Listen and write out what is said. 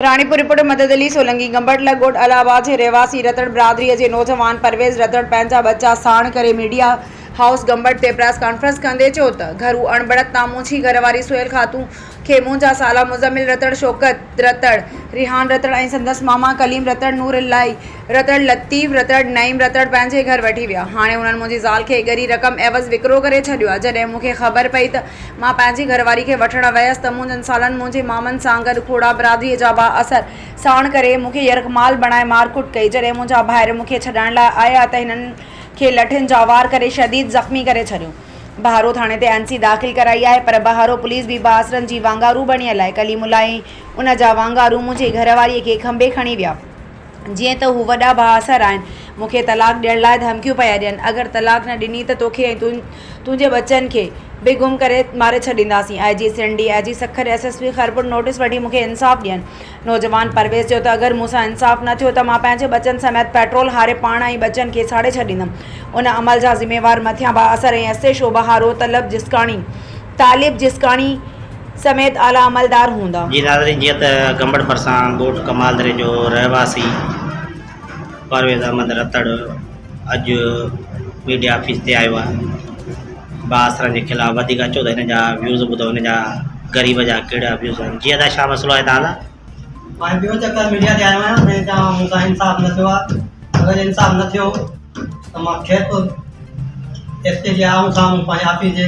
Ranipur, report, Madad Ali Solangi, گمبٽلا ڳوٺ الهه آباد جي رهواسي رتڙ برادريء جي نوجوان پرويز رتڙ پنهنجا ٻچا ساڻ ڪري ميڊيا هائوس گمبٽ تي پريس ڪانفرنس ڪندي چيو ته گهرو اڻبڻت تان منهنجي گهر واري سهيل خاتون کي منهنجا سالا مزمل رتڙ، شوڪت رتڙ، ريحان رتڙ ۽ سندس ماما ڪليم رتڙ، نور الاهي رتڙ، لطيف رتڙ، نعيم رتڙ پنهنجي گهر وٺي ويا، هاڻي انهن منهنجي زال کي ڳري رقم عيوض وڪرو ڪري ڇڏيو آهي، جڏهن مون کي خبر پئي ته مان پنهنجي گهر واري کي وٺڻ ويس ته منهنجن سالن منهنجي مامن سان گڏ کوڙا برادريء جا با اثر ساڻ ڪري مون کي يرغمال بڻائي مارڪٽ ڪئي. جڏهن منهنجا ڀائر مون کي ڇڏائڻ لاء آيا ته هنن کي لٺين جا وار ڪري شديد زخمي ڪري ڇڏيو. بهارو ٿاڻي تي اين سي داخل ڪرائي آهي پر بهارو پوليس بي با اثرن جي وانگارو بڻيل آهي. ڪليم الله ۽ ان جا وانگارو منهنجي گهر واريء کي کنڀي کڻي ويا. جيئن ته هو وڏا بااثر آهن. مون کي طلاق ڏيڻ لاء ڌمڪيون پيا ڏين. اگر طلاق نه ڏني ته توکي ۽ تنهنجي ٻچن کي به گم ڪري ماري ڇڏينداسين. I G Sindh, D I G Sukkur ۽ S S P Khairpur notice وٺي مون کي انصاف ڏين. نوجوان پرويز چيو ته اگر مون سان انصاف نه ٿيو ته مان پنهنجي ٻچن سميت پيٽرول هاري پاڻ ۽ ٻچن کي ساڙي ڇڏيندم. ان عمل جا ذميوار مٿيان بااثر ۽ ايس ايڇ او بهارو طلب جسڪاڻي طالب جسڪاڻي، سميت اعليٰ عملدار هوندا. جي ناظرين جيئن ته گنبڙ ڀرسان ڳوٺ ڪمال دري جو رهواسي پرويز احمد رتڙ اڄ ميڊيا آفيس تي آيو آهي بااثرن جي خلاف وڌيڪ اچو ته هن جا ويوز ٻڌو هن جا غريب جا ڪهڙا ويوز آهن جي ادا شاهه مسئلو آهي تان سان ماهي ٻيو چڪر ميڊيا تي آيو آهيان ۽ چاهيان مون سان انصاف نه ٿيو آهي اگر انصاف نه ٿيو ته مان کيس ايس پي جي آمهون سامهون پنهنجي آفيس جي.